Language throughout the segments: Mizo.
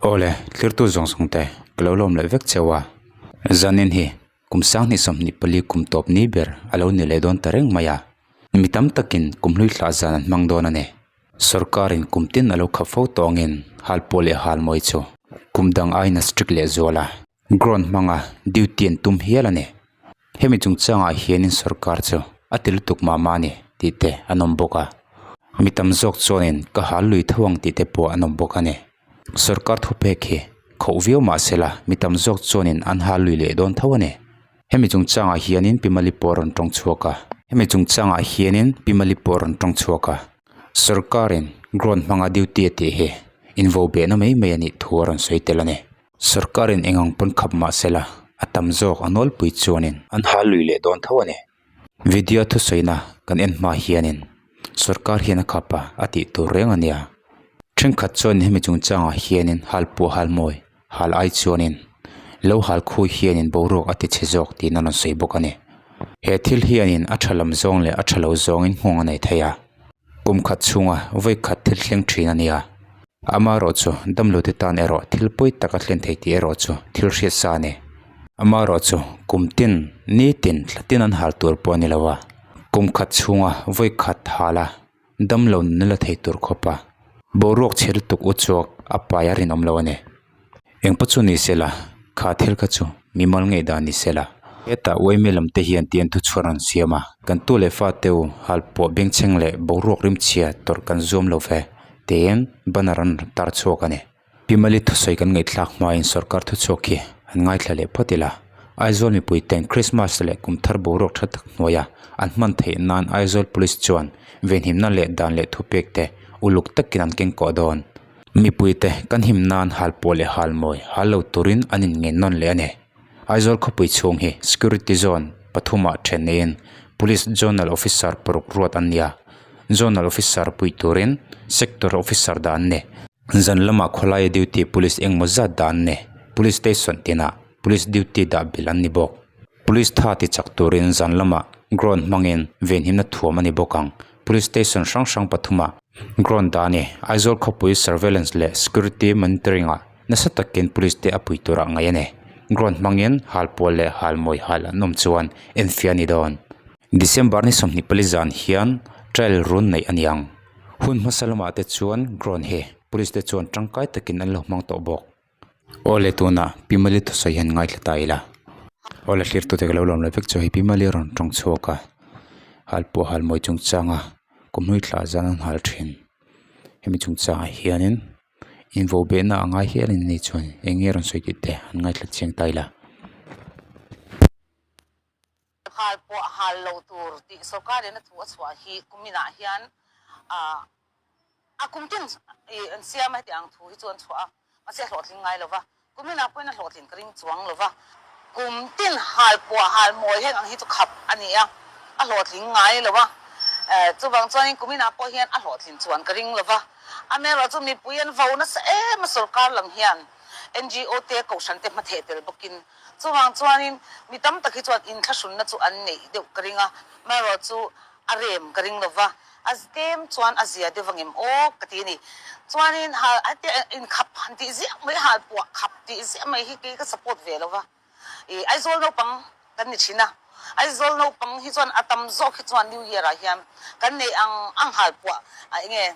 Awle, tlirtu zawng zawng te ka lo lawm leh vek cheu a, zanin hi kum sang hnih sawmhnih pali kum tawp ni ber a lo ni leh dawn ta reng mai a, mi tam takin kum hlui thlah zan an hmang dawn a ni. Sorkarin kum tin a lo khap fo tawngin halpuah leh halmawi chu kum dang aina strict leh zual a. Ground hmanga duty an tum hial a ni. Hemi chung changah hianin sorkar chu a ti lutuk mah mah a ni tih te an awm bawk a. Mi tam zawk chuanin ka hal lui tho ang tih te pawh an awm bawk a ni. Sorkar thuphek hi khauh viau mah se la, mi tam zawk chuanin an hal lui leh dawn tho a ni. Hemi chung changah hianin Pimali pawh a rawn tawng chhuak a. Hemi chung changah hianin Pimali pawh a rawn tawng chhuak a. Sorkarin ground hmanga duty a tih hi invo behna mai mai a nih thu a rawn sawi tel a ni. Sorkarin eng ang pawn khap mah sela, a tam zawk a nawlpui chuanin. An hal lui leh dawn tho a ni. Vidya thusawiina kan en hma hianin sorkar hian a khap a, a tih tur reng a nia. Thenkhat chuanin hemi chungchangah hianin hal puah hal mawi, hal ai chuanin lo hal khawi hianin boruak a ti chhe zawk tiin a rawn sawi bawk a ni. He thil hianin a tha lam zawng leh a tha lo zawngin nghawng a nei thei a. Kum khat chhunga vawi khat thil thleng thin a nia. Ama erawh chu damlute tan erawh thil pawi tak a thlen thei tih erawh chu thil hriat sa a ni. Ama erawh chu kum tin, nitin, thla tin an hal tur pawh a ni lo a. Kum khat chhunga vawi khat hala damlo nula thei tur khawpa boruak che lutuk uchuak a pai a rinawm lo a ni. Engpawh chu ni sela, kha thil kha chu mi mal ngei dan ni sela. Heta uaime lam te hian tian thu chhuar rawn siam a, kan tu leh fa teu hal puah bengchheng leh boruak rimchhia tawrh kan zuam lo ve tiin banner an rawn tar chhuak a ni. Pimali thusawi kan ngaihthlak hmain sorkar thu chhuak hi an ngaithla leh phawt ila, Aizawl mipui ten Krismas leh kumthar boruak tha tak hnuaia an hman theih nan Aizawl Police chuan venhimna leh dan leh thupek te uluk takin an keng koh dawn Mipuite kan him nan hal pawh leh hal mawi hal lo turin an inngainnawn leh a ni. Aizawl khawpui chhung hi Security Zone pathumah then neiin Police Zonal Officer paruk ruat an nia. Zonal Officer puih turin Sector Officer dah an ni. Zan lamah khawlaia duty Police engmaw zat dah an ni. Police Station tinah Police duty dah bil an ni bawk. Police tha tichak turin zan lamah Ground hmangin venhimna thuam a ni bawk ang. Police station hrang hrang pathuma ground dani Aizawl khawpui surveillance leh security monitoring ah nasa takin police te a pui tur ah ngaih a ni. Ground hmangin hal pawl leh hal mawi hal an awm chuan enfiah a ni dawn. December ni sawmhnih pali zan hian trial run neih a niang. Hun hmasa lamah te chuan ground hi police te chuan tangkai takin an lo hmang tawh bawk. Awle tuna pi mali thusawi hian ngaithla ta ila awle hrirhtute ka lo lawm lo vek chu hei pi mali rawn tawng chhuak a hal pawh hal mawi chung changa khawmui thla zan an hal thin hemi chung changah hianin invo behna a ngai hial in a ni chuan eng nge rawn sawi tih te an ngaithla chiang ta ila. Nghal pawh hal lo tur tih sorkarin a thu a chhuah hi kuminah hian a kum tin an siam a hetiang thu hi chu an chhuah a, mahse a hlawhtling ngai lo va, kuminah pawhin a hlawhtlin ka ring chuang lo va, kum tin hal pawh hal mawi hek ang hi chu khap a ni a, a hlawhtling ngai lo va, chuvang chuanin kuminah pawh hian a hlawhthlin chuan ka ring lo va, amerawh chu mipui an vo nasa em a sorkar lam hian ngo te, kohhran te hmatheh tel bawkin Chuvang chuanin mi tam tak hi chuan inthlahrunna chu an neih deuh ka ring a, Maroh chu a rem ka ring lo va, a stem chuan a zia deuh vangem awk ka ti a ni. Chuanin hal hetiang ah inkhap han tih ziah mai, hal puah khap tih ziah mai hi kei ka support ve lo va. I Aizawl naupang kan ni thin a, Aizawl naupang hi chuan a tam zawk hi chuan New Year ah hian kan nei ang ang hal puah a eng nge,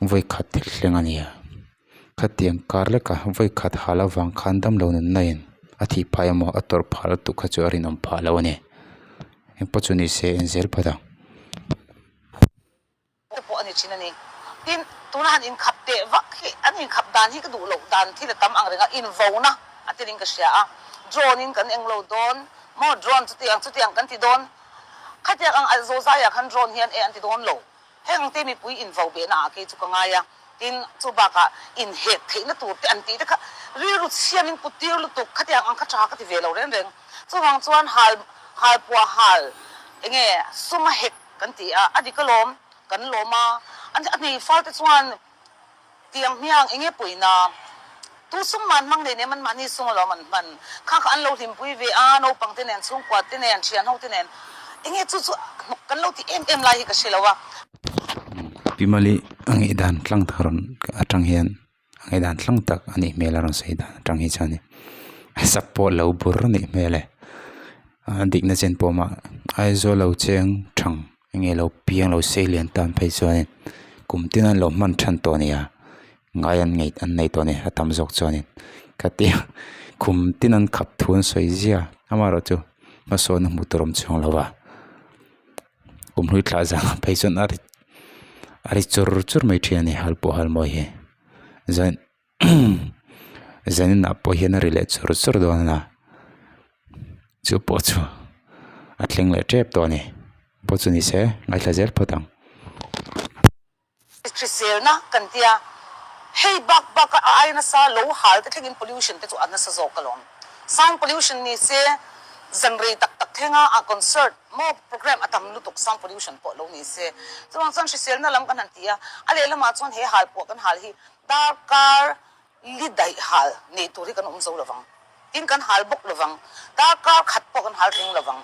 vawikhat thil thleng a nia. Khatiang kar leka vawikhat hal avang khan damlo nunna in a thih phai emaw a tawrh phah lutuk kha chu a rinawm phah lo a ni. Engpawh chu nise en zel phawt ang. Te pawh a ni thin a ni. Tin, tuna han inkhap teh vak hi, an inkhap dan hi ka duh loh dan thil a tam ang reng a, invona a tel in ka hria a. Drone in kan englo dawn maw, drone chutiang chutiang kan ti dawn. Khatiang ang, Zozai ah khan drone hian e an ti dawn lo. Heng te mipui invo behna ah kei chu ka ngai a, tin chu bakah inhet theihna tur te an tih te kha rilru chhiam in kutir lutuk khati ang ang kha tha ka ti ve lo reng reng. Chuvang chuan hal hal puah hal enge suma hek kan ti a, a dik alawm kan lawm a, a hneifal te chuan Tiang hmiang enge puina tu sung man hmang nei nem anmahni sung alawm an hman kha kha an lo hlimpui ve a, naupangte nen, chhungkuate nen, thian hote nen enge chu chu kan lo ti em em lai hi ka hre lo a. Pi Mali a ngaih dan tlang tak rawn atang hian a ngaih dan tlang tak a nih hmel a rawn sawi dan atang hi chuan in a sak pawh lo bur a nih hmel e, a dikna chen pawh mah Aizawl lo cheng thang Enge lo piang lo sei lian tan phei chuanin kum tina an lo hman than tawh a nia, ngai an ngei an nei tawh a ni a tam zawk chuanin ka ti a, kum tina an khap thu an sawi zia amaherawhchu chu hmasawn a hmuh tur awm chhung lo va, kum hlui thla zang phei chuan a ri a ri chur chur mai thin a ni halpawh halmawi hi zain-- Zaninah pawh hian a ri leh chur chur dawn a ni a chu pawh chu a thleng leh tep tawh a ni pawh chu ni se ngaihla zel phawt ang. Hriselna kan ti a, hei bak bak a ai nasa lo hal te thlengin pollution te chu a nasa zawk alawm. Sound pollution ni se zan rei tak tak thlenga a concert maw programme a tam lutuk sound pollution pawh lo ni se. Chuvang chuan hriselna lam kan han ti a, a lehlamah chuan he hal puah kan hal hi Tar kar li daih hal neih tur hi kan awm zo lo vang. Tin kan hal bawk lo vang. Tar kar khat pawh kan hal reng lo vang.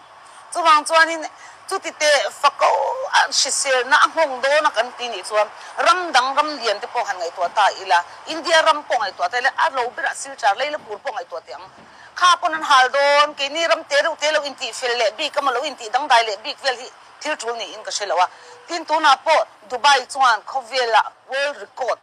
Chuvang chuanin chuti te fako a hriselna a nghawng dawna kan ti nih chuan ram dang ram lian te pawh han ngaihtuah ta ila, India ram pawh ngaihtuah ta ila, a lo berah sir char lei la pur pawh ngaihtuah teh ang. Kha pawn an hal dawn, keini ram te reuh te lo intih fel leh bik emaw lo intih dangdai leh bik vel hi thil tul niin ka hre lo a. Tin tunah pawh Dubai chuan khawvela, World Record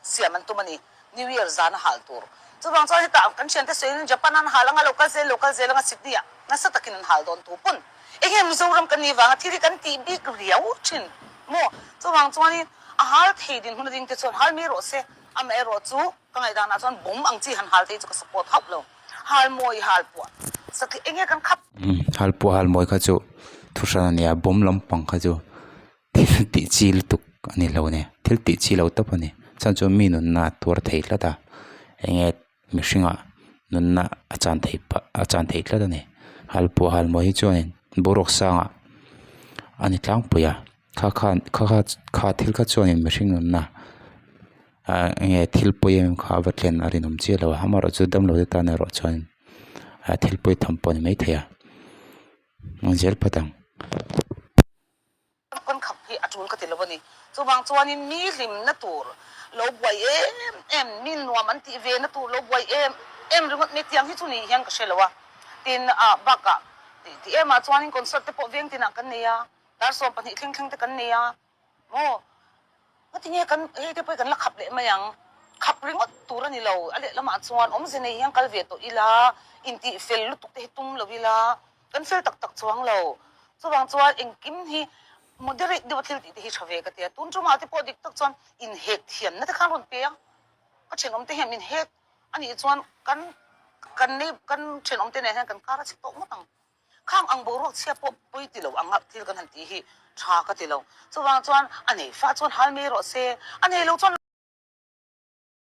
siam an tum a ni, New Year zana hal tur. Chuvang chuan heta kan thiante sawiin Japan-a an hal anga lo kal zel lo kal zel anga Sydney-ah nasa takin an hal dawn tur pawn. Eng nge Mizoram kan nih vanga thil hi kan tih bik riau thin maw? Chuvang chuanin a hal thei dinhmun ring te chuan hal mai rawh se, amaherawh chu ka ngaih danah chuan bum ang chi han hal thei chu ka support hauh lo. Hal mawi hal puah satliah eng nge kan khap. Hal puah hal mawi kha chu thu hran a ni a, bum lampang kha chu thil tih chi lutuk a ni hlauh a ni thil tih chi lo tawp a ni chhan chu mi nunna a tuar thei tlat a eng nge mihring ah nunna a chan thei pah a chan thei tlat a ni halpuah halmawh hi chuan in boruak sang ah a ni tlangpui a kha kha kha kha kha thil kha chuan in mihring nunna ah eng nge thil pawi em em kha a va thlen a rinawm chiah lo a amaherawh chu damlo te tan erawh chuan in thil pawi tham pawh a ni maithei a zel phawt ang. Ka pawn khap hi a tul ka ti lo a ni. Chuvang chuanin mi hlim na tur lo buai em em, mi nuam an tih ve na tur lo buai em em ringawt mai tiang hi chu nih hian ka hre lo a. Tin a bak a, ti ti em ah chuanin concert te pawh veng tin ah kan nei a, dar sawm pahnih thleng thleng te kan nei a maw. Ka ti nge kan hei te pawh hi kan la khap leh mai ang, khap ringawt tur a ni lo. A lehlam ah chuan awmze nei hian kal ve tawh ila, intih fel lutuk te hi tum lo ila. Kan fel tak tak chuang lo. Chuvang chuan engkim hi moderate deuha thil tih te hi tha ve ka ti a. Tun chu mah te pawh dik tak chuan inhek thian nate khan a rawn pe a. Ka thenawm te hian min hek a nih chuan kan kan nei kan thenawm te neh hian kan kar a chhi tawh ngawt ang. Khang ang boruak chhia pawh pawi ti lo anga thil kan han tih hi tha ka ti lo. Chuvang chuan a nei fah chuan hal mai rawh se, a nei lo chuan.